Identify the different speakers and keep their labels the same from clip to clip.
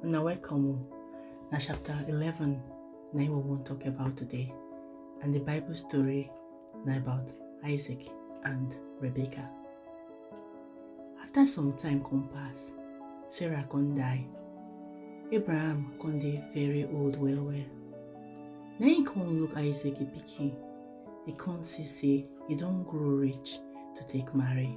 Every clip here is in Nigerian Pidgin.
Speaker 1: Una welcome o. Na chapter 11 na im we wan talk about today and the Bible story na about Isaac and Rebecca. After some time come pass, Sarah come die. Abraham come dey very old well well. Na im come look Isaac im pikin, e come see sey e don grow reach to take marry.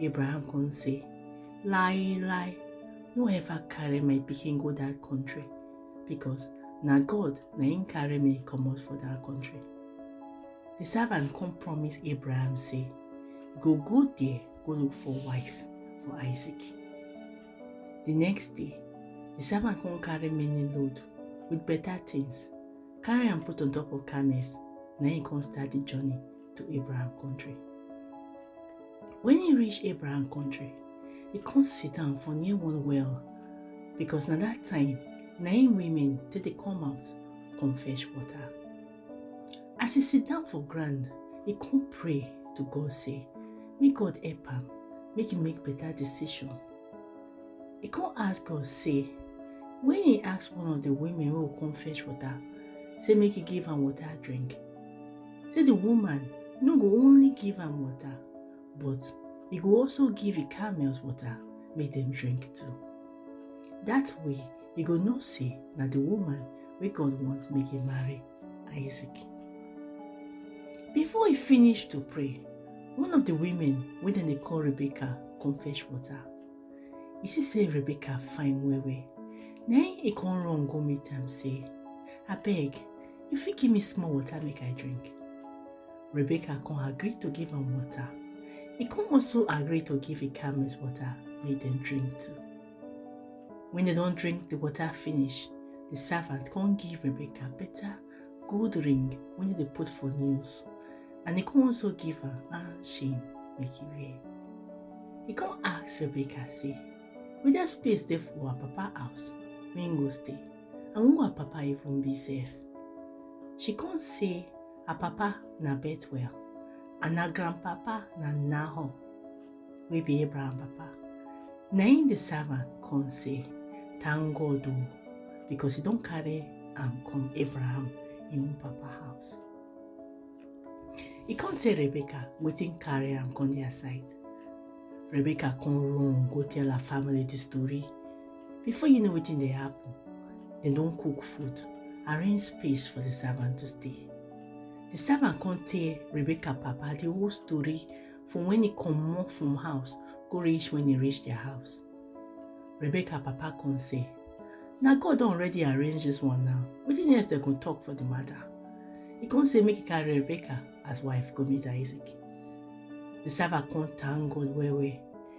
Speaker 1: Abraham come say, Lie, lie, no ever carry my pikin go that country because na God na him carry me comot for that country. The servant come promise Abraham say, go go there, go look for wife for Isaac. The next day, the servant come carry many load with better things, carry am put on top of camels, na him come start the journey to Abraham country. When he reach Abraham country, he come sit down for near one well because na that time na im women take dey come out come fetch water. As he sit down for ground, he come pray to God say make God help am make he make better decision. He come ask God say when he ask one of the women wey go come fetch water say make he give am water drink, say the woman no go only give am water but e go also give e camels water make dem drink too that way e go know say na the woman wey god want make e marry isaac before e finish to pray one of the women wey dem dey call rebecca come fetch water e see say rebecca fine well well na im e come run go meet am say abeg You fit give me small water make I drink. Rebecca come agree to give am water. He come also agree to give a Ikamis water make dem drink too. When they don drink the water finish, the servant come give Rebecca better gold ring wey dem dey put for nails and he come also give her hand chain make he wear. He come ask Rebecca say, whether space dey for her papa house wey he go stay. and who her papa even be sef. She come say her papa na Bethuel and her grandpapa na Nahor wey be Abraham papa. Na im the servant come say, Thank God o, because he don carry am come Abraham im own papa house. He come tell Rebecca wetin carry am come their side. Rebecca come run go tell her family the story. Before you know wetin dey happen, dem don cook food, arrange space for the servant to stay. The servant come tell Rebecca papa the whole story from when he comot from house go reach when he reach their house. Rebecca papa come say, na God don already arrange this one now, wetin else dem go talk for the matter? He come say make he carry Rebecca as wife go meet Isaac. The servant come thank God well well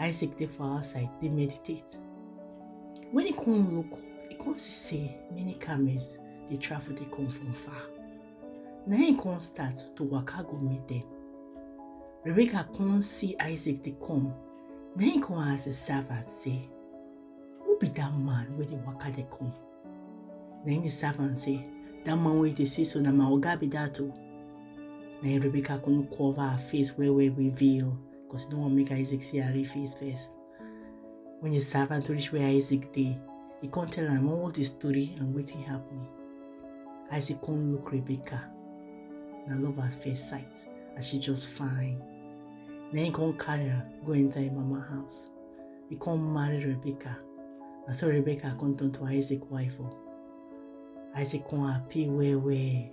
Speaker 1: Isaac dey for outside dey meditate. When he come look up, he come see say many camels dey travel dey come from far. Na him come start to waka go meet them. Rebecca come see Isaac dey come. Na him come ask the servant say, Who be that man wey dey waka dey come? Na him the servant say, That man wey you dey see so na my oga be that o. Na him Rebecca come cover her face well well with veil. Because you don't want to make Isaac see her face first. When your servant reach where Isaac dey, he come tell am all the story and wetin happen. Isaac come look Rebecca. Na love at first sight as she just fine. Then he come carry her go enter him mama house. He come marry Rebecca. Na so Rebecca come turn to Isaac wife o. Isaac come happy well well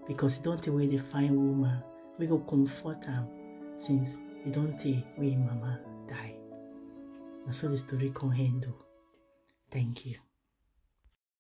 Speaker 1: because he don tey wey dey find woman We go comfort am since e don tey wey im mama die. Na so the story come end o. Thank you.